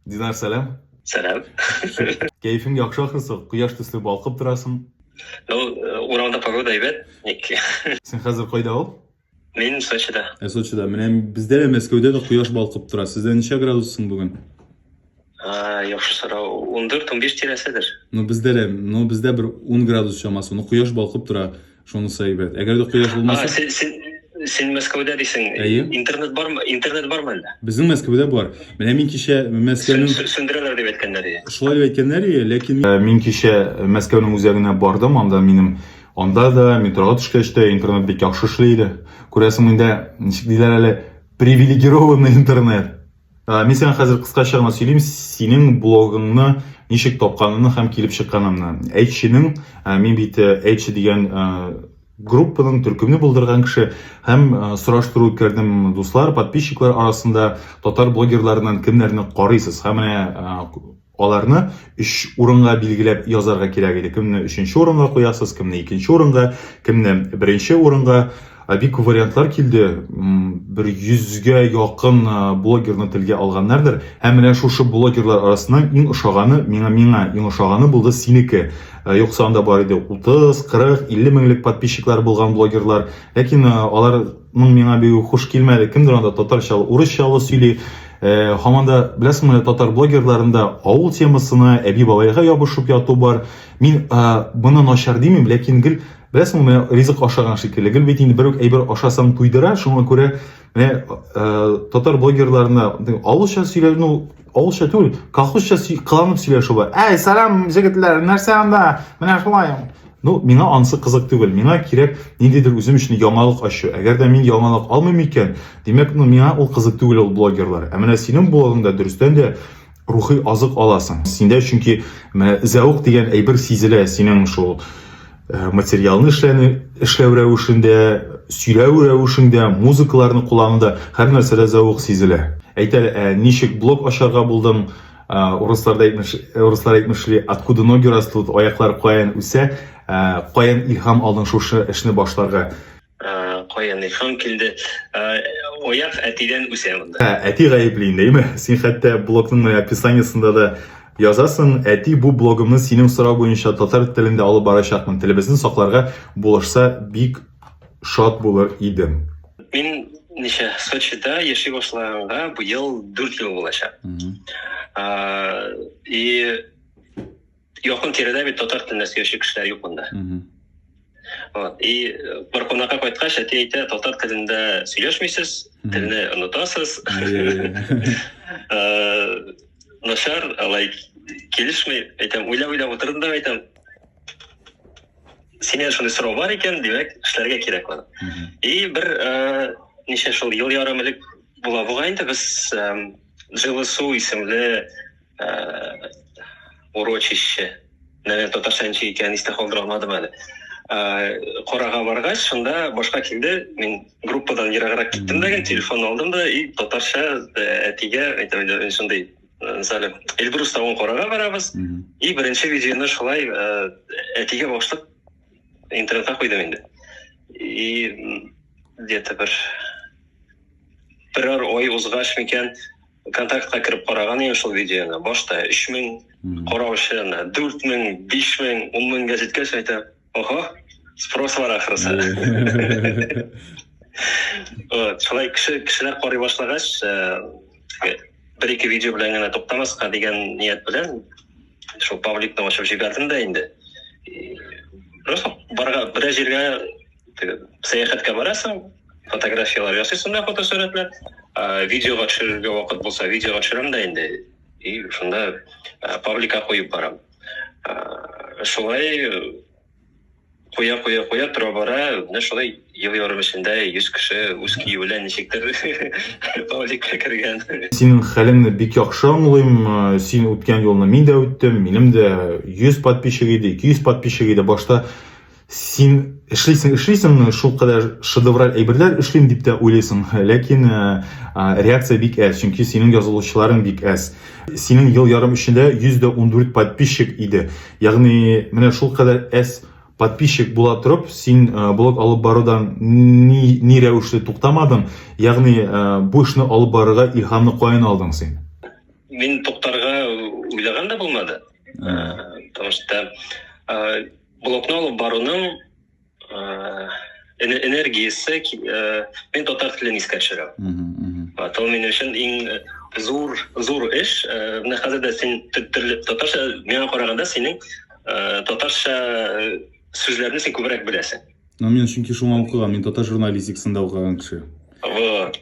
Динар, сәлам. Сәлам. Кәефең яхшы ахрысы, кояш төсле балкып торасың. Ну, э, урамда погода әйбәт, ник. Син хәзер кайда ул? Мин Сочида. Ә Сочида, менә бездә дә Мәскәүдә дә кояш балкып тора. Сездә ничә градуссың бүген? А, яхшы сорау. 14-15 тирәседер. Ну, бездә дә, ну, бездә бер 10 градус чамасы. Ну, кояш балкып тора. Шунысы әйбәт. Әгәр дә кояш булмаса... А, син, син, син Мәскәүдә дисең. Әйе. Интернет бармы? Интернет бармы әллә? Безнең Мәскәүдә бар. Менә мин кичә Мәскәүнең... Сүндерәләр дип әйткәннәр иде. Шулай дип әйткәннәр иде, ләкин... Э, мин кичә Мәскәүнең үзәгенә бардым, анда минем... Анда да метроға төшкәч тә интернет бик яхшы эшли иде. Күрәсең, миндә, ничек диләр әле, привилегированный интернет. Ә, мин сиңа хәзер кыскача гына сөйлим, синең блогыңны ничек тапканымны һәм килеп чыкканымны. Әйтченең, ә, мин бит э, әйтче дигән ә, группаның төркемне булдырган кеше һәм э, сораштыру үткәрдем дуслар, подписчиклар арасында татар блогерларыннан кемнәрне карыйсыз? Һәм менә э, Аларны өч урынга билгеләп язарга кирәк иде. Кемне өченче урынга куясыз, кемне икенче урынга, кемне беренче урынга. Бик күп вариантлар килде. Бер йөзгә якын блогерны телгә алганнардыр. Һәм менә шушы блогерлар арасыннан иң ошаганы, миңа миңа иң ошаганы булды синеке. Юкса анда бар иде 30, 40, 50 меңлек подписчиклары булган блогерлар. Ләкин алар моң миңа бигү хуш килмәде кемдер анда татарчалы урысчалы сөйли э, һаман да беләсеңме татар блогерларында авыл темасына әби бабайга ябышып яту бар мин э, моны начар димим ләкин гел беләсеңме менә ризык ашаган шикелле гел бит инде бер үк әйбер ашасаң туйдыра шуңа күрә менә э, татар блогерларына авылча сөйләнү Ул шә түгел, колхозча кыланып сөйләшү бар. Әй, сәлам, җегетләр, нәрсә анда? Менә шулай. Ну, миңа ансы кызык түгел. Миңа кирәк ниндидер үзем өчен яңалык ачу. Әгәр дә мин яңалык алмыйм икән, димәк, ну, миңа ул кызык түгел ул блогерлар. Ә менә синең блогыңда дөрестән дә рухи азык аласың. Синдә чөнки менә зәвык дигән әйбер сизелә, синең шул Э, материалны эшләне, эшләү рәвешендә, сөйләү рәвешендә, музыкаларны куллануда һәр нәрсәдә зәвык сизелә. Әйтәле, ә э, ничек блог ашарга булдың, э, урысларда әйтмеш, урыслар әйтмешли, откуда ноги растут, аяклар каян үсә, каян илһам алдың шушы эшне башларга. Кая Нейхан килде. Ояк әтидән үсә монда. Әти гаепле инде, әйме? Син хәтта блогның описаниесында да язасың, әти бу блогымны синең сорау буенча татар телендә алып барачакмын. Телебезне сакларга булышса бик шат булыр идем. Мин ничә Сочида яши башлаганга быел 4 ел булачак. И якын тирәдә бит татар телендә сөйләүче кешеләр юк монда. Вот. И э, бер кунакка кайткач, әти әйтә, татар телендә сөйләшмисез, телне онытасыз. Э, начар, алай килешмей, әйтәм, уйлап-уйлап утырдым да әйтәм, синен шундый сорау бар икән, димәк, эшләргә кирәк аны. И бер э, ничә шул ел ярым элек була бугай инде без жилы су исемле Э, урочище. Наверное, татарча ничек икәнен истә калдыра алмадым әле. Э, Карага баргач, шунда башка килде. Мин группадан ераграк киттем дә, телефон алдым да и татарча э, әтигә әйтәм инде шундый Мисалы, Эльбрус тавын карага барабыз. И беренче видеоны шулай әтигә башлык интернетка куйдым инде. И где-то бер берәр ой узгач микән, контактка кереп караган идем шул видеоны башта өч мең караучы ана дүрт мең биш мең ун меңгә җиткәч әйтәм ого спрос бар ахрысы шулай кеше кешеләр карый башлагач э, бер ике видео белән генә туктамаска дигән ният белән шул пабликны ачып җибәрдем дә инде просто барга берәр җиргә сәяхәткә барасың фотографияләр ясыйсың да фотосурәтләр видеога төшерергә вакыт булса видеога төшерәм дә инде и шунда пабликка куеп барам шулай куя куя куя тора бара менә шулай ел ярым эчендә йөз кеше үз көе белән ничектер пабликка кергән синең хәлеңне бик яхшы аңлыйм син үткән юлны мин дә үттем минем дә йөз подписчик иде ике йөз подписчик иде башта син эшлисең эшлисең шул кадәр шедевраль әйберләр эшлим дип тә уйлыйсың ләкин э, реакция бик әз чөнки синең язылучыларың бик әз синең ел ярым эчендә 114 подписчик иде ягъни менә шул кадәр әз подписчик була торып син э, блог алып барудан ни, ни рәвешле туктамадың ягъни э, бу эшне алып барырга илһамны каян алдың син мин туктарга уйлаган да булмады потому что Блокны алып баруның энергиясе мен татар телен искә төшерәм. Вот, ул минем өчен иң зур зур эш. Менә хәзер дә син татарча миңа караганда синең татарча сүзләрне син күбрәк беләсең. Ну, мин чөнки шуңа укыган, мин татар журналистикасында укыган кеше. Вот.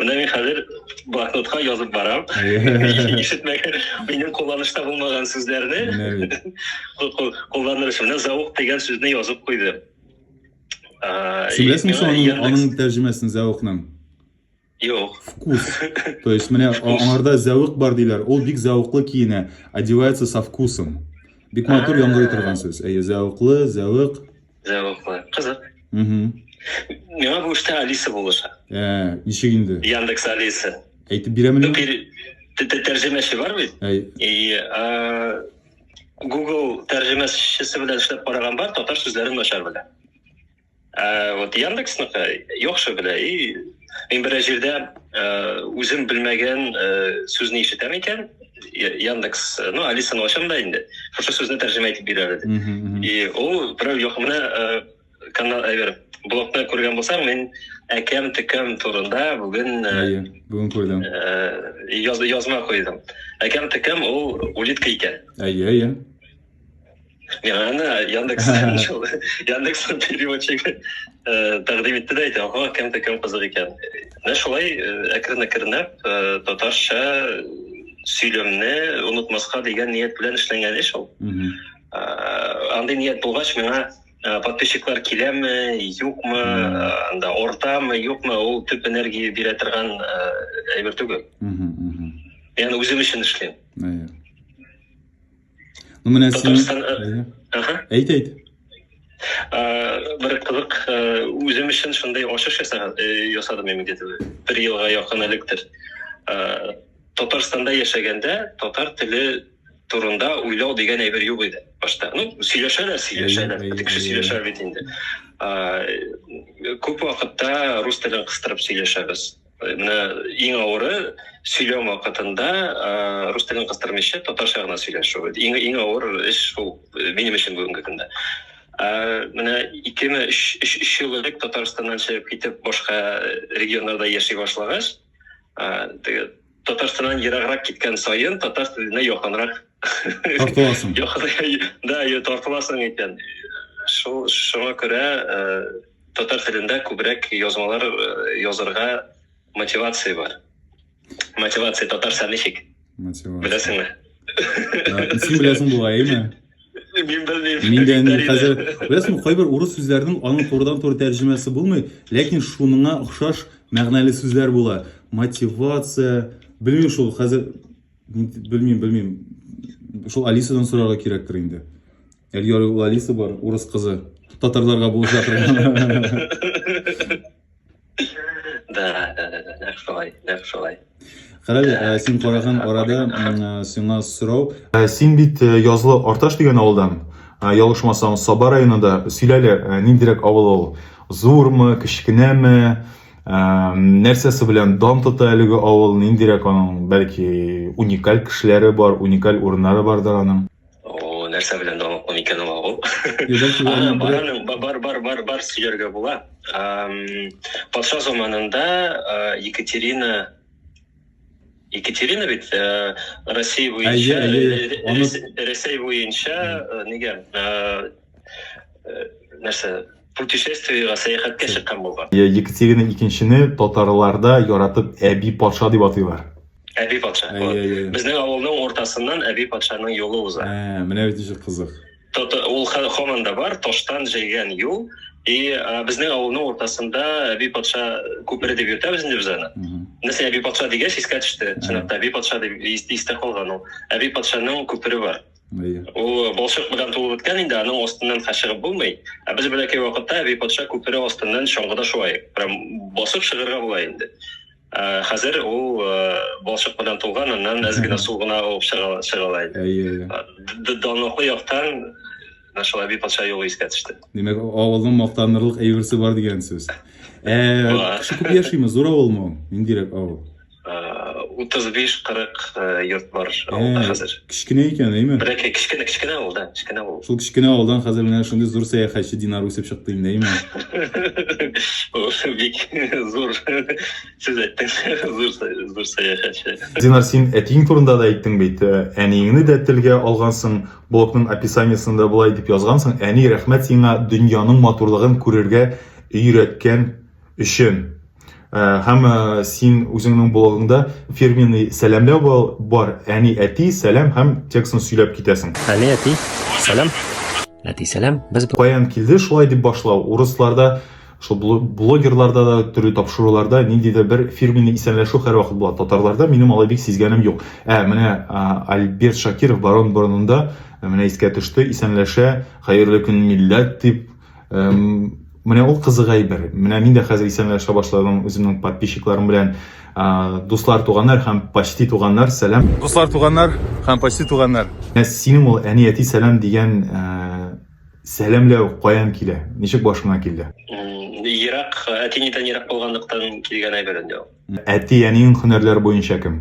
Менә мин хәзер блокнотка язып барам. Ишетмәгә минем кулланышта булмаган сүзләрне. Кулланырышым. Менә заук дигән сүзне язып куйды. Син беләсең шуның аның тәрҗемәсен зәвыкның? Юк. Вкус. То есть, менә аңарда зәвык бар диләр. Ул бик зәвыклы киенә. Одевается со вкусом. Бик матур яңгырый торган сүз. Әйе, зәвыклы, зәвык. Зәвыклы. Кызык. Миңа бу эштә Алиса булыша. Ә, ничек инде? Яндекс Алиса. Әйтеп бирәмени? Тәрҗемәче бар бит. И Google тәрҗемәчесе белән эшләп караган бар, татар сүзләрен начар белә. ә, вот яндексныка яхшы белә и мин берәр җирдә ә, үзем белмәгән ә, сүзне ишетәм икән яндекс ну алисаны ачам да инде шушы сүзне тәрҗемә итеп бирәләр дип и ул берәү юк менә ә, канал әйбер блогта күргән булсаң мин әкәм текәм турында бүген ә, бүген күрдем ә, яз, язма куйдым әкәм текәм ул улитка икән әйе әйе Мен аны Яндекс шул Яндекс переводчик тәкъдим итте дә әйтә, ага, кемдә кем кызык икән. Менә шулай әкрен-әкренләп татарча сөйләмне онытмаска дигән ният белән эшләнгән эш ул. Андый ният булгач, миңа подписчиклар киләме, юкмы, анда ортамы, юкмы, ул төп энергия бирә торган әйбер түгел. Мин үзем өчен эшлим. Ну, менә син... Әйт, әйт. Бер кызык, үзем өчен шундый ачыш ясадым мин где-то бер елга якын электер. Татарстанда яшәгәндә татар теле турында уйлау дигән әйбер юк иде башта. Ну, сөйләшәләр, сөйләшәләр. Кеше сөйләшә бит инде. Күп вакытта рус телен кыстырып сөйләшәбез. Менә иң авыры сөйләм вакытында рус телен кыстырмыйча татарча гына сөйләшү. Иң иң авыр эш шул э, минем өчен бүгенге көндә. Менә икеме өч өч өч ел элек Татарстаннан чыгып китеп башка э, регионнарда яши башлагач, теге Татарстаннан ераграк киткән саен татар теленә якынрак тартыласың. Да, тартыласың икән. Шул шуңа күрә э, Татар телендә күбрәк язмалар э, язырга мотивация бар. Мотивация татарча ничек? Мотивация. Беләсеңме? Син беләсең бугай, әйме? Мин белмим. Мин дә инде хәзер беләсеңме, кайбер урыс сүзләренең аның турыдан туры тәрҗемәсе булмый, ләкин шуныңа охшаш мәгънәле сүзләр була. Мотивация, белмим шул, хәзер белмим, белмим. Шул Алисадан сорарга кирәктер инде. Эльёры Лалисы бар, урыс кызы. Татарларга булып жатыр. Да, да, да, да, нәкъ шулай, нәкъ шулай. Карале, ә, син караган арада м, ә, сиңа сорау. Ә, Син бит ә, язлы Арташ дигән авылдан, ә, ялгышмасам, Саба районында. Сөйләле, ә, ниндирәк авыл ул? Зурмы, кечкенәме? Ә, Нәрсәсе белән дан тота әлеге авыл? Ниндирәк аның, бәлки, уникаль кешеләре бар, уникаль урыннары бардыр аның? О, нәрсә белән дәваплы микән ул агу? Бараның бар бар бар бар сөйләргә була. Патша заманында Екатерина Екатерина бит Россия буенча Россия буенча нигә нәрсә путешествиега сәяхәткә чыккан булган. Екатерина икенчене татарларда яратып әби патша дип атыйлар. Әби патша. Безнең авылның уртасыннан әби патшаның юлы уза. Ә, менә бит ничек кызык. Ул хаман да бар, таштан җәйгән юл. И безнең авылның уртасында әби патша күпере дип йөртәбез инде без аны. Нәрсә әби патша дигәч искә төште. Чынлап та әби патша дип истә калган ул. Әби патшаның күпере бар. Ул э, балчык белән тулып беткән инде, аның астыннан ха чыгып булмый. Ә без бәләкәй вакытта әби патша күпере астыннан чаңгыда шулай, прям басып чыгарга була инде. Ә, э, хәзер ул э, балчык белән тулган, аннан әз генә су гына алып чыга чыга инде. Әйе, әйе. Данлыклы яктан шул әби патша юлы искә төште. Димәк, авылның мактанырлык әйберсе бар дигән сүз. Ә, кеше күп яшиме? Зур авылмы ул? Ниндирәк авыл? отыз беш кырык йорт бар авылда хәзер кечкенә икән әйме бәләкәй кечкенә кечкенә авыл да кечкенә авыл шул кечкенә авылдан хәзер менә шундый зур сәяхәтче динар үсеп чыкты инде әйме бик зур сез әйттегез зур зур сәяхәтче динар син әтиең турында да әйттең бит әниеңне дә телгә алгансың блогның описаниесында болай дип язгансың әни рәхмәт сиңа дөньяның матурлыгын күрергә өйрәткән өчен һәм син үзеңнең блогыңда фирменный сәламләү бар әни әти сәлам һәм текстны сөйләп китәсең әни әти сәлам әти сәлам без каян килде шулай дип башлау урысларда шул блогерларда да төрле тапшыруларда ниндидер бер фирменный исәнләшү һәрвакыт була татарларда минем алай бик сизгәнем юк ә менә альберт шакиров барон борынында менә искә төште исәнләшә хәерле көн милләт дип Менә ул кызык әйбер. Менә мин дә хәзер исәнләшә башладым үземнең подписчикларым белән. Дуслар, туганнар һәм почти туганнар, сәлам. Дуслар, туганнар һәм почти туганнар. Ә синең ул әни әти сәлам дигән сәламләү каян килә? Ничек башыңа килде? Ерак, әти-әнидән ерак булганлыктан килгән әйбер инде ул. Әти-әниең һөнәрләре буенча кем?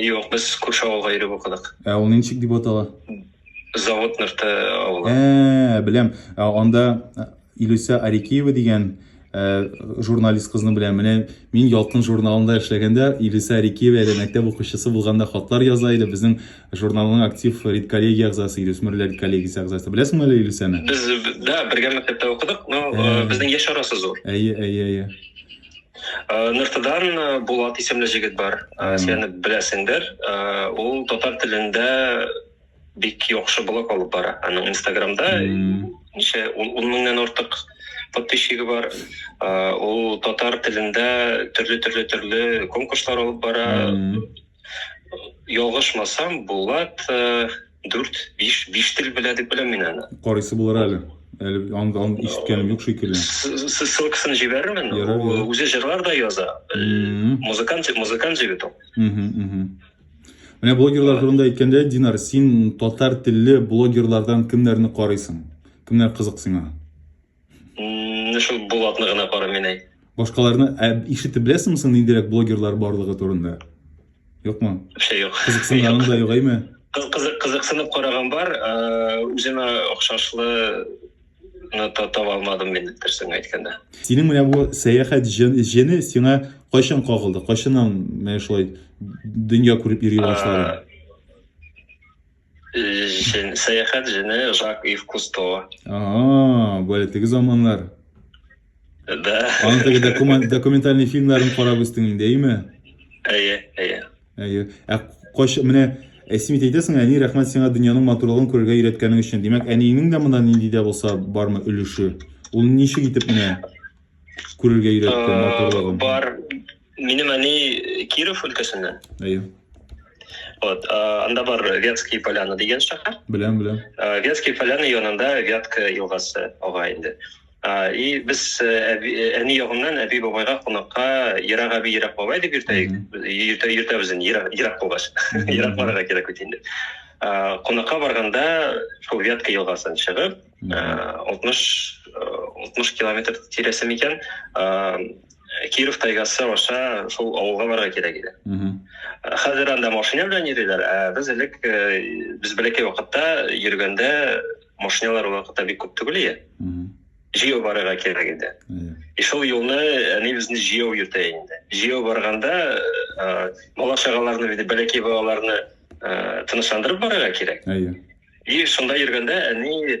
Юк, без күрше авылга йөреп укыдык. Ә ул ничек дип атала? Завод нырты авылы. Ә, беләм. Ә анда э, Илүсә Арикеева дигән э, журналист кызны беләм. Менә мин Ялкын журналында эшләгәндә Илүсә Арикеева әле мәктәп укучысы булганда хатлар яза иде. Безнең журналның актив редколлегия әгъзасы, Илүсмерләр редколлегиясе әгъзасы. Беләсеңме әле Илүсәне? Без, да, бергә мәктәптә укыдык, но э, Ә. безнең яшь арасы зур. Әйе, әйе, әйе. Э, нртдан э, булат исемле җегет бар э, сен аны беләсеңдер ул татар телендә бик яхшы блог алып бара аның инстаграмда ничә ун меңнән артык подписчигы бар ул татар телендә төрле төрле төрле конкурслар алып бара Ялгышмасам, Булат э, дүрт, биш, биш тел белә дип беләм мин аны. Карыйсы булыр әле. Әле анда аны ишеткәнем юк шикелле. С- Ссылкасын җибәрермен. Ярар, Ул ярар. үзе җырлар да яза. Э, Мгм. Музыкант, музыкант җегет ул. Мгм, мгм. Менә блогерлар турында әйткәндә, Динар, син татар телле блогерлардан кемнәрне карыйсың? Кемнәр кызык сиңа? Менә шул Булатны гына кара мин әй. Башкаларны ә, ишетеп беләсеңме соң ниндирәк блогерлар барлыгы турында? Юкмы? Вообще юк. Кызыксынганың да юк, әйме? Кыз- Кызык кызыксынып караган бар, э, үземә охшашлы ну, та- таба алмадым мин дөресен әйткәндә. Синең менә бу сәяхәт җен- җене сиңа кайчан кагылды? Кайчаннан менә шулай дөнья күреп йөри башладың? Э, Җен, сәяхәт җене Жак Ив Кусто. Ага, бәле теге заманнар. Да. Аның теге документ, документальный фильмларын карап үстең инде, әйме? Әйе, әйе. Әйе. Ә кайча менә Әсмит әйтәсең, әни рәхмәт сиңа дөньяның матурлыгын күрергә өйрәткәнең өчен. Димәк, әниеңнең дә монда нинди дә булса бармы өлеше? Ул ничек итеп менә күрергә өйрәтте матурлыгын? Бар, Минем әни Киров өлкәсеннән. Әйе. Вот, анда бар Вятские поляны дигән шәһәр. Беләм, беләм. Вятские поляны янында Вятка елгасы ага инде. И без э, э, әни ягыннан әби бабайга кунакка ерак әби ерак бабай дип йөртәек. Йөртә йөртәбез инде ерак ерак булгач. Ерак барырга кирәк бит инде. Кунакка барганда шул Вятка елгасын чыгып, 60 60 километр тирәсе микән, Э, Киров тайгасы аша шул авылга барырга кирәк иде. Э, хәзер анда машина белән йөриләр, ә без элек э, без бәләкәй вакытта йөргәндә машиналар вакытта бик күп түгел иде. Җәяү барырга кирәк иде. И шул юлны әни безне җәяү йөртә инде. Җәяү барганда бала чагаларны, бәләкәй балаларны тынычландырып барырга кирәк. И шунда йөргәндә әни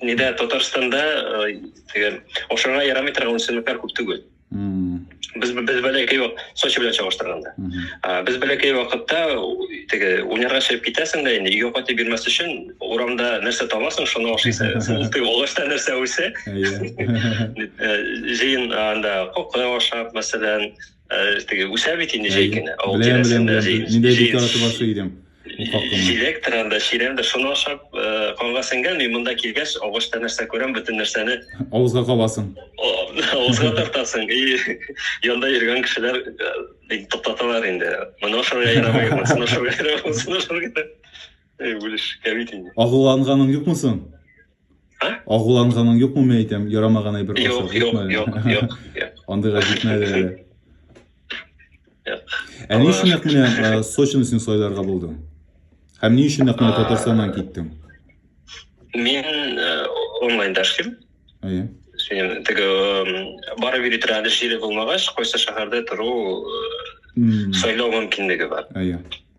Нидә Татарстанда теге ашарга ярамый торган үсемлекләр күп түгел. Без без бәләкәй вак Сочи белән чагыштырганда. Без бәләкәй вакытта теге уйнарга чыгып китәсең дә инде өйгә кайтып бирмәс өчен урамда нәрсә табасың, шуны ашыйсың. Теге агачта нәрсә үсә? Җыен анда кокы ашап, мәсәлән, теге үсә бит инде җәй көне авыл тирәсендә җилектер анда чирәмдер шуны ашап канга сеңгән мин монда килгәч агачта нәрсә күрәм бөтен нәрсәне авызга кабасың авызга тартасың и янда йөргән кешеләр токтаталар инде моны ашарга ярамый монысын ашарга ярамый Эй, Улиш, кәбит инде. Агуланганың юкмы соң? Ә? Агуланганың юкмы, мен әйтәм, ярамаган әйбер Юк, ашап, юк, юкмы? юк, юк, юк. Андыйга җитмәде әле. Юк. Ә ни өчен нәкъ менә э, Сочины син сайларга булдың? Һәм ни өчен нәкъ менә Татарстаннан киттең? Мин э, онлайн дәшлим. Әйе. Синем теге эм, барып йөри торган җире булмагач, кайсы шәһәрдә тору э, М, сайлау мөмкинлеге бар. Әйе.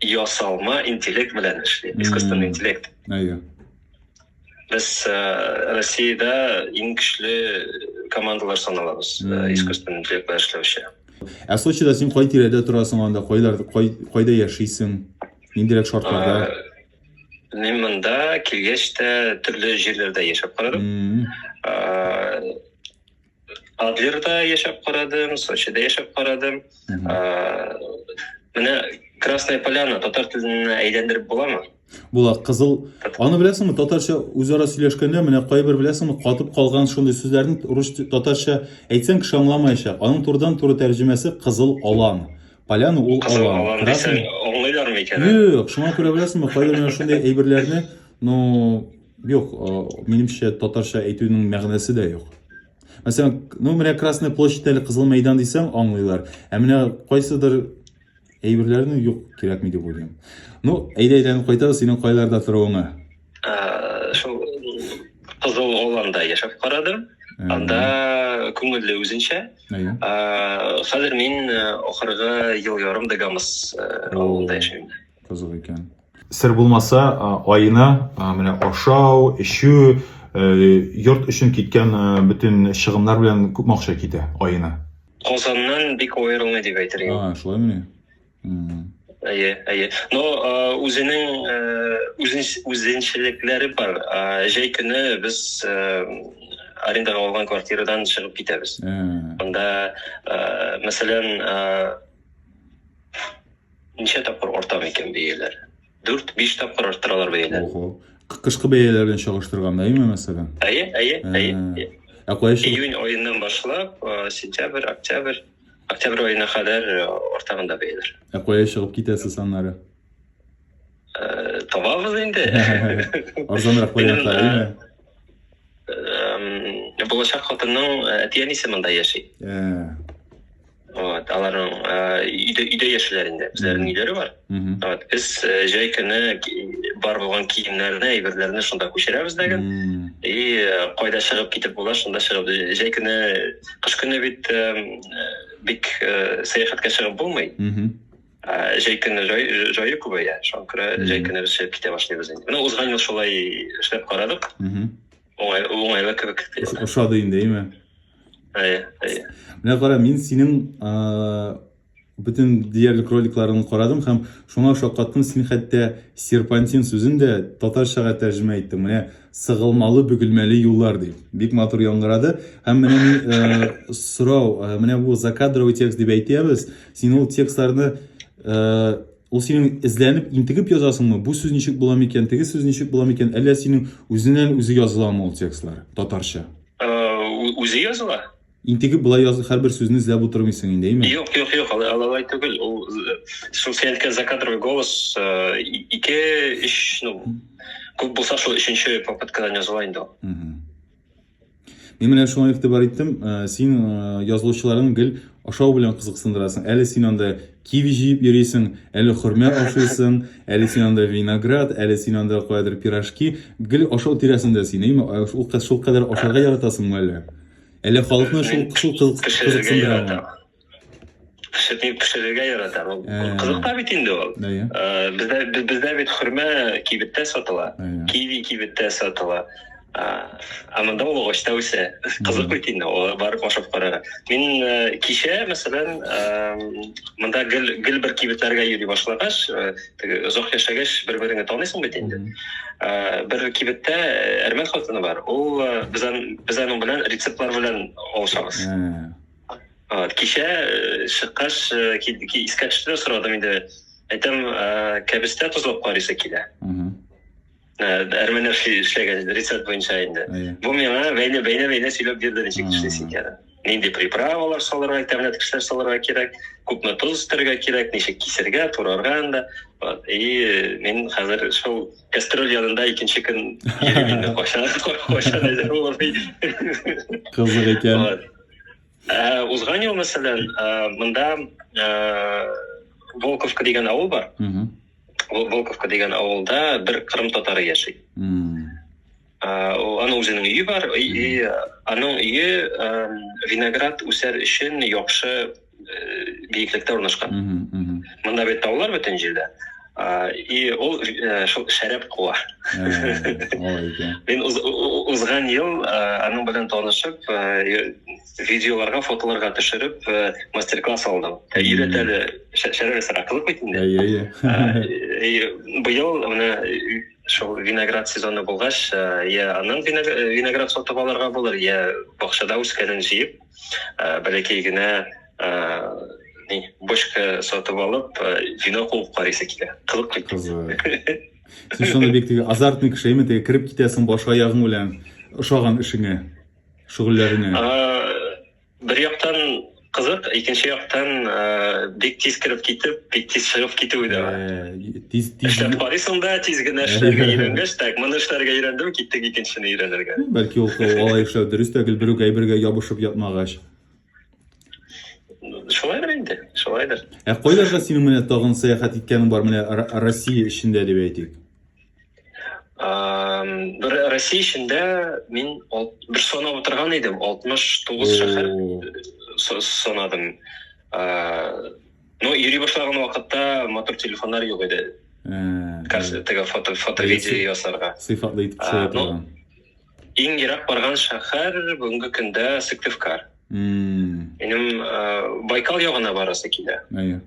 ясалма интеллект белән эшли искусственный интеллект әйе без э, россияда иң көчле командалар саналабыз э, искусственный интеллект белән эшләүче ә сочида син кай тирәдә торасың анда кайлар кайда яшисең ниндирәк шартларда э, мен мында килгәч тә төрле жерлерде яшәп карадым Адлерда яшәп карадым, Сочида яшәп карадым. Менә Красная Поляна татар теленә әйләндереп буламы? Була, кызыл. Аны беләсеңме, татарча үзара сөйләшкәндә менә кайбер беләсеңме, катып калган шундый сүзләрне рус татарча әйтсәң кеше аңламаячак. Аның турыдан туры тәрҗемәсе кызыл алан. Поляна ул алан. Красный. Аңлыйлармы икән? Юк, шуңа күрә беләсеңме, кайбер менә шундый әйберләрне, ну, Юк, минемчә татарча әйтүнең мәгънәсе дә юк. Мәсәлән, ну менә Красная площадь әле Кызыл мәйдан дисәң аңлыйлар. Ә менә кайсыдыр әйберләрне юк кирәкми дип уйлыйм. Ну, әйдә әйләнеп кайтабыз синең кайларда торуыңа. Шул Кызыл Оланда яшәп карадым. Анда күңелле үзенчә. Хәзер мин ахыргы ел ярым Дагамыс авылында яшим. Кызык икән. Сер булмаса, аена менә ашау, эчү, йорт өчен киткән бөтен чыгымнар белән күп акча китә аена. Казаннан бик аерылмый дип әйтер идем. А, шулай мени? Әйе, әйе. Но үзенең үзенчелекләре бар. Җәй көне без арендага алган квартирадан чыгып китәбез. Анда, мәсәлән, Ничә тапкыр арта микән бәяләр? Дүрт, биш тапкыр арттыралар бәяләр. Ого. Кы- Кышкы бәяләр белән чагыштырганда, әйме, мәсәлән? Әйе, әйе, әйе. Ә, Ә кая чыгып? Июнь аеннан башлап, э, сентябрь, октябрь, октябрь аена кадәр э, артаганда бәяләр. Ә кая чыгып китәсез аннары? Э, Табабыз инде. Арзанрак вариантлар, Минем, әйме? Эм, Булачак хатынның э, әти-әнисе монда яши. Ә, вот аларның өйдә өйдә яшиләр инде үзләренең өйләре бар вот без җәй көне бар булган киемнәрне әйберләрне шунда күчерәбез дәген и кайда чыгып китеп була шунда чыгып җәй көне кыш көне бит бик сәяхәткә чыгып булмый җәй көне җае күбәя шуңа күрә җәй көне без чыгып китә башлыйбыз инде менә узган ел шулай эшләп карадык Уңайлы, уңайлы кебек. Ошады инде, әйме? Әйе, әйе. Менә кара, мин синең бөтен диярлек роликларын карадым һәм шуңа шаккаттым, син хәтта серпантин сүзен дә татарчага тәрҗемә иттең. Менә сыгылмалы, бөгелмәле юллар дип. Бик матур яңгырады. Һәм менә мин сорау, менә бу закадровый текст дип әйтәбез. Син ул текстларны Ул синең эзләнеп, интегеп язасыңмы? Бу сүз ничек була микән? Теге сүз ничек була микән? Әллә синең үзеннән үзе языламы ул текстлар татарча? Э, үзе языла. Интегеп була язы һәрбер сүзне эзләп утырмыйсың инде, әйме? Юк, юк, юк, алай түгел. Ул э, шул син әйткән закадровый голос э, ике, өч, ну, күп булса шул өченче попыткадан языла инде. Мин менә шуңа игътибар иттем, э, син э, язылучыларың гел ашау белән кызыксындырасың. Әле син анда киви җыеп йөрисең, әле хөрмә ашыйсың, әле син анда виноград, әле син анда каядыр пирожки. Гел ашау тирәсендә син, әйме? Э, шул кадәр, шул кадәр ашарга яратасыңмы әллә? Әллә халыкны шул шул кызык- Пешерергә кызыксындырамы? яратам. пешерми пешерергә ярата ул э, кызык та бит инде ул э, бездә бездә бит хөрмә кибеттә сатыла киви кибеттә сатыла ә монда ул агачта үсә кызык бит инде ул барып ашап карарга мин э, кичә мәсәлән монда гел гел бер кибетләргә йөри башлагач теге озак яшәгәч бер береңне таныйсың бит инде бер кибеттә әрмән хатыны бар ул без аның белән рецептлар белән алышабыз Кичә чыккач, искә төште дә сорадым инде. Әйтәм, кәбестә тозлап карыйсы килә. Әрмәннәр эшләгән рецепт буенча инде. Бу миңа бәйле бәйле бәйле сөйләп бирде ничек эшлисе икәнен. Нинди приправалар салырга, тәмле кешеләр салырга кирәк, күпме тоз өстәргә кирәк, ничек кисергә, турарга анда. И мин хәзер шул кастрюль янында икенче көн йөрим инде кайчан кайчан әзер булыр. Кызык икән. Ә, узган ел, мәсәлән, ә, монда ә, Волковка дигән авыл бар. Угу. Вол- Волковка дигән авылда бер кырым татары яши. М, Ә, ул- аның үзенең өе бар, и, и, аның өе ә, виноград үсәр өчен яхшы биеклектә урнашкан. Монда бит таулар бөтен җирдә. И ул шул шәрәп куа. Мин узган ел аның белән танышып, видеоларга, фотоларга төшереп, мастер-класс алдым. Өйрәт әле, шәрәп ясарга кызык бит инде. Әйе, әйе. Быел менә шул виноград сезоны булгач, я аның виноград сатып алырга булыр, я бакчада үскәнен җыеп, Ә, бәләкәй генә ә, ни, бочка сатып алып, ә, вино куып карыйсы килә. Кызык бит. Кызык. Син шуны бик теге азартный кеше, әйме, теге кереп китәсең баш аягың белән ошаган эшеңә, шөгыльләреңә. Бер яктан кызык, икенче яктан бик тиз кереп китеп, бик тиз чыгып китүе дә бар. тиз тиз эшләп карыйсың да тиз генә эшләргә өйрәнгәч так моны эшләргә өйрәндем киттек икенчесенә өйрәнергә бәлки ул алай эшләү дөрес тә гел бер үк әйбергә ябышып ятмагач шулайдыр инде шулайдыр ә кайларга синең менә тагын сәяхәт иткәнең бар менә россия эчендә дип әйтик бер россия эчендә мин бер санап утырган идем алтмыш тугыз шәһәр санадым Но йөри башлаган вакытта матур телефоннар юк иде. Теге фото, фото-видео ясарга. Сыйфатлы итеп төшерә торган. Иң ерак барган шәһәр бүгенге көндә Сыктывкар. Минем Байкал ягына барасы килә. Әйе.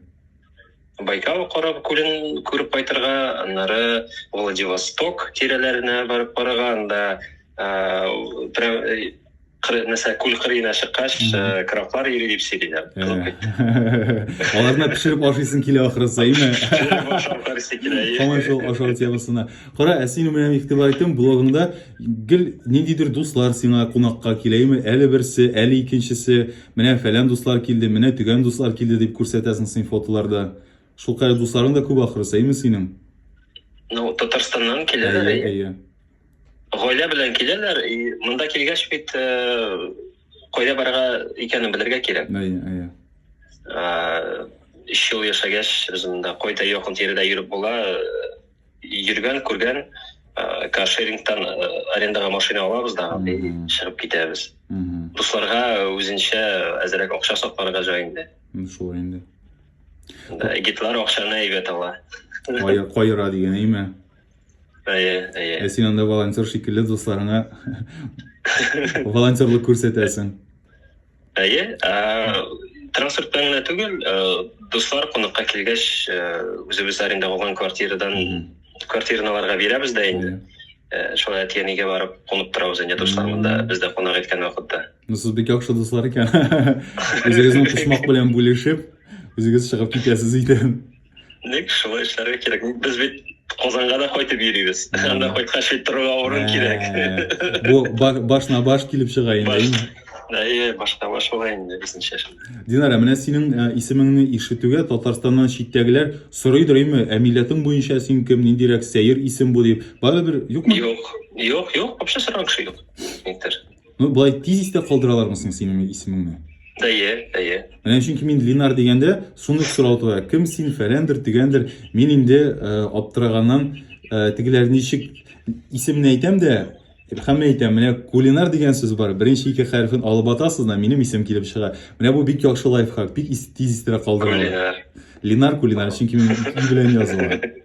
Байкал карап күлен күреп кайтырга, аннары Владивосток тирәләренә барып карарга, анда прям нәрсә күл кырыена чыккач краблар йөри дип сөйлиләр аларны пешереп ашыйсың килә ахрысы име һаман шул ашау темасына кара ә син менә игътибар иттем блогыңда гел ниндидер дуслар сиңа кунакка киләме әле берсе әле икенчесе менә фәлән дуслар килде менә төгән дуслар килде дип күрсәтәсең син фотоларда шулкадәр дусларың да күп ахрысы име синең ну татарстаннан киләләр әйе Гаилә белән киләләр, и монда килгәч бит э, кайда барырга икәнен белергә кирәк. Әйе, әйе. Э, Өч ел яшәгәч, үземдә кайда якын тирәдә йөреп була, э, йөргән, күргән, э, каршерингтан э, арендаға машина алабыз да, и Мгм. чыгып китәбез. Мгм. Дусларга үзенчә әзерәк акча сакларга җай инде. Ну, Шулай инде. Да, Гитлар акчаны әйбәт ала. Кая- Каера дигән, әйме? Әйе, әйе. Ә син анда волонтер шикелле дусларыңа волонтерлык күрсәтәсең. Әйе, транспорт белән генә түгел, дуслар кунакка килгәч, үзебез арендага алган квартирадан квартирналарга бирәбез дә инде. Шулай әти әнигә барып кунып торабыз инде дуслар монда бездә кунак иткән вакытта. Ну, сез бик яхшы дуслар икән. Үзегезнең почмак белән бүлешеп, үзегез чыгып китәсез өйдән. Ник шулай эшләргә кирәк? Без бит Казанга да кайтып йөрибез. Анда кайткач бит торырга урын ә, кирәк. Бу башна баш килеп чыга инде. Әйе, башка баш була инде безнеңчә. Динара, менә синең ә, исемеңне ишетүгә Татарстаннан читтәгеләр сорыйдыр име, ә милләтең буенча син кем, ниндирәк сәер исем бу дип. Барыбер юкмы? Юк, юк, юк, вообще сораган кеше юк. Никтер. Ну, болай тиз истә калдыралармы соң синең исемеңне? Әйе, әйе. Менә чөнки мин Линар дигәндә, суны сорау туа. Кем син, фәләндер, төгәндер. Мин инде э, аптыраганнан э, тегеләр ничек исемне әйтәм дә, һәммә әйтәм, менә кулинар дигән сүз бар. Беренче ике хәрефен алып атасыз да, минем исем килеп чыга. Менә бу бик яхшы лайфхак, бик тиз истә калдыра. Кулинар. Линар кулинар, чөнки мин и белән языла.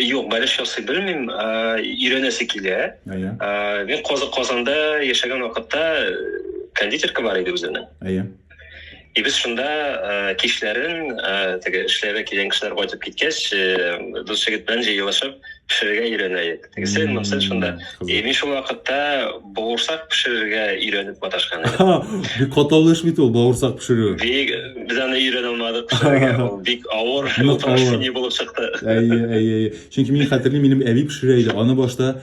Юк, бәлеш ясый белмим, өйрәнәсе килә. Әйе. Мин Казы Казанда яшәгән вакытта кондитерка бар иде үзенең. Әйе. И без шунда кичләрен теге эшләргә килгән кешеләр кайтып киткәч, дус җегет белән җыелышып пешерергә өйрәнә идек. Тегесе монсы шунда. И мин шул вакытта бауырсак пешерергә өйрәнеп маташкан идек. Бик катлаулы эш бит ул бауырсак пешерү. Бик без аны өйрәнә алмадык пешерергә. Ул бик авыр, не булып чыкты. Әйе, әйе, әйе. Чөнки мин хәтерлим, минем әби пешерә иде. Аны башта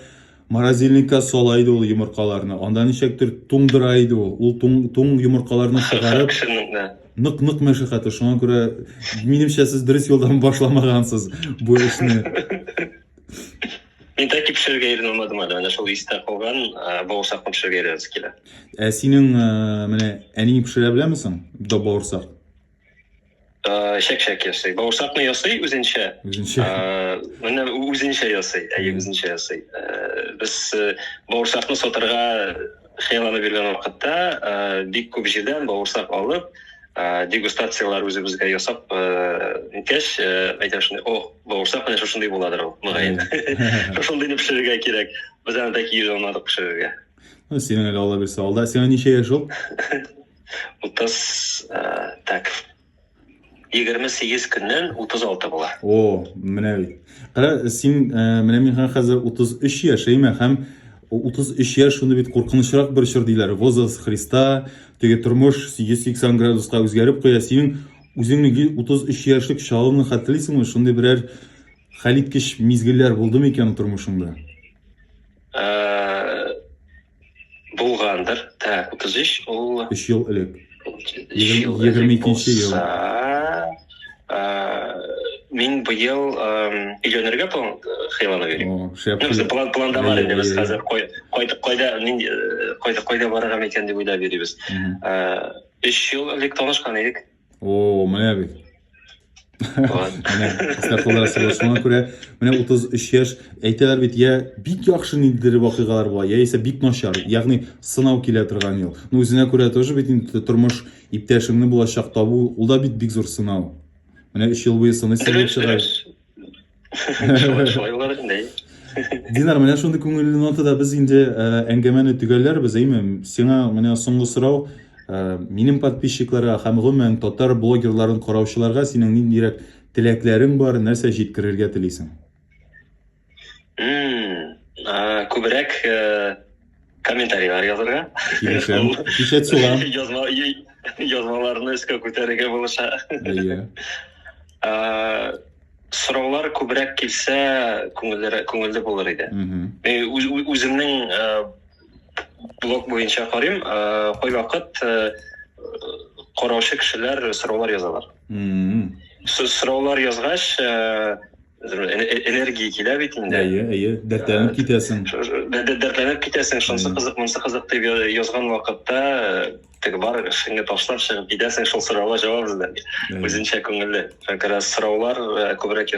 морозильникка сала иде ул йомыркаларны. Анда ничектер туңдыра иде ул. Ул туң, туң йомыркаларны чыгарып. Нык нык мәшәкате. Шуңа күрә минемчә сез дөрес юлдан башламагансыз бу эшне. Мин тәки пешерергә өйрәнә алмадым әле. Менә шул истә калган бавырсакны пешерергә өйрәнәсе килә. Ә синең менә әниң пешерә беләме соң? Да бавырсак. Шәк-шәк ясый. Бавырсакны ясый үзенчә. Үзенчә. Менә үзенчә ясый. Әйе, үзенчә ясый. Без бавырсакны сатырга Сыйланып йөргән вакытта бик күп җирдән бавырсак алып, дегустацияләр үзебезгә ясап иткәч, әйтәм шундый, о, бавырсак менә шушындый буладыр ул, мөгаен. Шушындыйны пешерергә кирәк. Без аны бәлки йөз алмадык пешерергә. Ну, синең әле алла бирсә алда. Сиңа ничә яшь ул? Утыз, так, 28 көннән 36 була. О, менә бит. Кара, син э, менә мин хәзер 33 яшәймә һәм 33 яшь шуны бит куркынычрак бер чор диләр. Возраст Христа, теге тормыш 180 градуска үзгәреп куя. Синең үзеңне 33 яшьлек чалыңны хәтерлисеңме? Шундый берәр хәлиткеч мизгелләр булдымы икән тормышыңда? Э, Булгандыр. Так, 33 ул 3 ел элек. 22 нче ел. Мин быел өйләнергә хыяллана йөрим. Ну, без план планда бар инде, без хәзер кайтып кайда, мин кайтып кайда барырга микән дип уйлап йөрибез. 3 ел элек танышкан идек. О, менә бит. Менә Исхакуллар сылы шуңа күрә менә 33 яшь әйтәләр бит, я бик яхшы ниндидер вакыйгалар була, яисә бик начар. Ягъни сынау килә торган ел. Ну үзенә күрә тоже бит инде тормыш иптәшеңне булачак табу, ул да бит бик зур сынау. Менә 3 ел буе сыныйсы булып чыга. шулайлар инде динар менә шундый күңелле нотада без инде әңгәмәне төгәлләрбез әйме сиңа менә соңгы сорау минем подписчикларга һәм гомумән татар блогерларын караучыларга синең ниндирәк теләкләрең бар нәрсә җиткерергә телисең күбрәк Комментарийлар язырга. Килешәм. Кичә сугам. Язма язмаларны өскә күтәрергә булыша. Әйе. Сораулар күбрәк килсә, күңелле күңелле булыр иде. Мин үземнең блог буенча карыйм, кайвакыт караучы кешеләр сораулар язалар. Сораулар язгач, энергия килә бит инде әйе әйе дәртләнеп китәсең дәртләнеп китәсең шунысы кызык монысы кызык дип язган вакытта теге бар эшеңне ташлап чыгып китәсең шул сорауга җавап эзләп үзенчә күңелле как раз сораулар күбрәк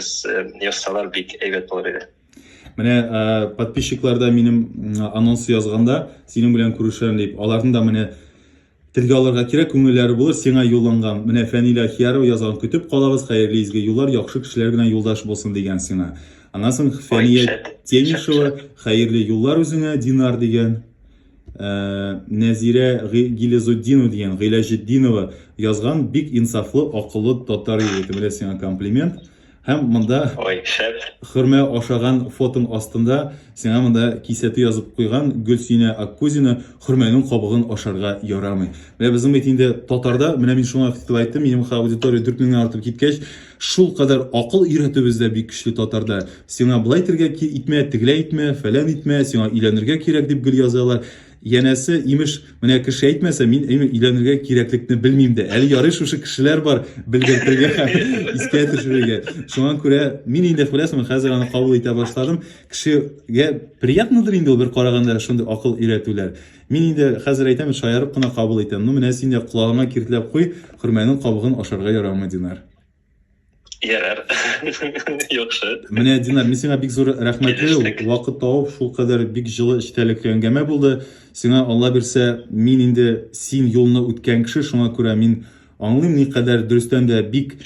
язсалар бик әйбәт булыр иде менә подписчикларда минем анонс язганда синең белән күрешәм дип аларның да менә Телгә алырга кирәк, күңелләре булыр сиңа юлланган. Менә Фәнилә Ахиярова язган Көтеп калабыз, хәерле изге юллар, яхшы кешеләр генә юлдаш булсын дигән сиңа. Аннан соң Фәния Тенишева хәерле юллар үзеңә, Динар дигән. Ә, Нәзирә Гилезутдинова дигән, Гыйләҗетдинова язган бик инсафлы, акыллы татар егете. Менә сиңа комплимент. Һәм монда Ой, шәп. хөрмә ашаган фотоң астында сиңа монда кисәтү язып куйган Гөлсинә Аккузина хөрмәнең кабыгын ашарга ярамый. Менә безнең бит инде татарда, менә мин шуңа фикер айттым, минем ха аудитория 4 меңнән артып киткәч, шул кадәр акыл өйрәтүбез дә бик көчле татарда. Сиңа былай итергә итмә, тегеләй итмә, фәлән итмә, сиңа өйләнергә кирәк дип гел язалар. Янәсе, имеш, менә кеше әйтмәсә, мин өйләнергә кирәклекне белмим дә. Әле ярый шушы кешеләр бар белгертергә һәм искә төшерергә. Шуңа күрә мин инде күрәсең, хәзер аны кабул итә башладым. Кешегә приятнадыр инде ул бер караганда шундый акыл өйрәтүләр. Мин инде хәзер әйтәм, шаярып кына кабул итәм. Ну, менә син дә колагыңа киртләп куй, хөрмәнең кабыгын ашарга ярамый, Динар. Ярар. Яхшы. Менә Динар, мин сиңа бик зур рәхмәтле. Вакыт тауып, шул кадәр бик җылы эчтәлекле әңгәмә булды. Сиңа Алла бирсә, мин инде син юлны үткән кеше, шуңа күрә мин аңлыйм ни кадәр дөрестән дә бик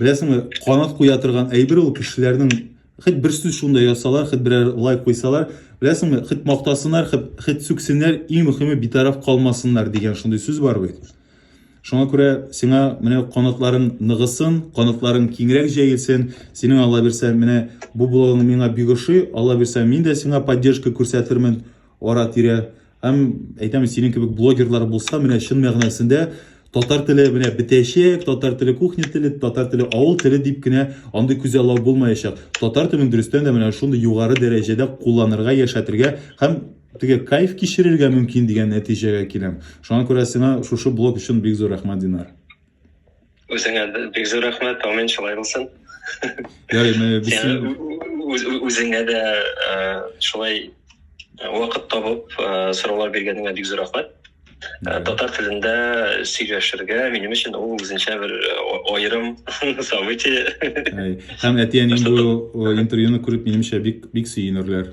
беләсеңме, канат куя торган әйбер ул кешеләрнең хит бер сүз шунда ясалар, хит берәр лайк куйсалар, беләсеңме, хит мактасыннар, хит сүксеннәр, иң мөхиме битараф калмасыннар дигән шундый сүз бар бит. Шуңа күрә сиңа менә канатларың ныгысын, канатларың киңрәк җәелсен. Синең Алла бирсә, менә бу блогың миңа бик ошый. Алла бирсә, мин дә сиңа поддержка күрсәтермен ара-тирә. Һәм әйтәм, синең кебек блогерлар булса, менә чын мәгънәсендә татар теле менә бетәчәк, татар теле кухня теле, татар теле авыл теле дип кенә андый күзаллау булмаячак. Татар телен дөрестән дә менә шундый югары дәрәҗәдә кулланырга, яшәтергә һәм Теге кайф кичерергә мөмкин дигән нәтиҗәгә киләм. Шуңа күрә сиңа шушы блог өчен бик зур рәхмәт, Динар. Үзеңә бик зур рәхмәт, амин шулай булсын. Ярый, менә без үзеңә дә шулай вакыт табып сораулар биргәнеңә бик зур рәхмәт. Татар телендә сөйләшергә минем өчен ул үзенчә бер аерым событие. Һәм әти-әнием бу интервьюны күреп минемчә бик бик сөенерләр.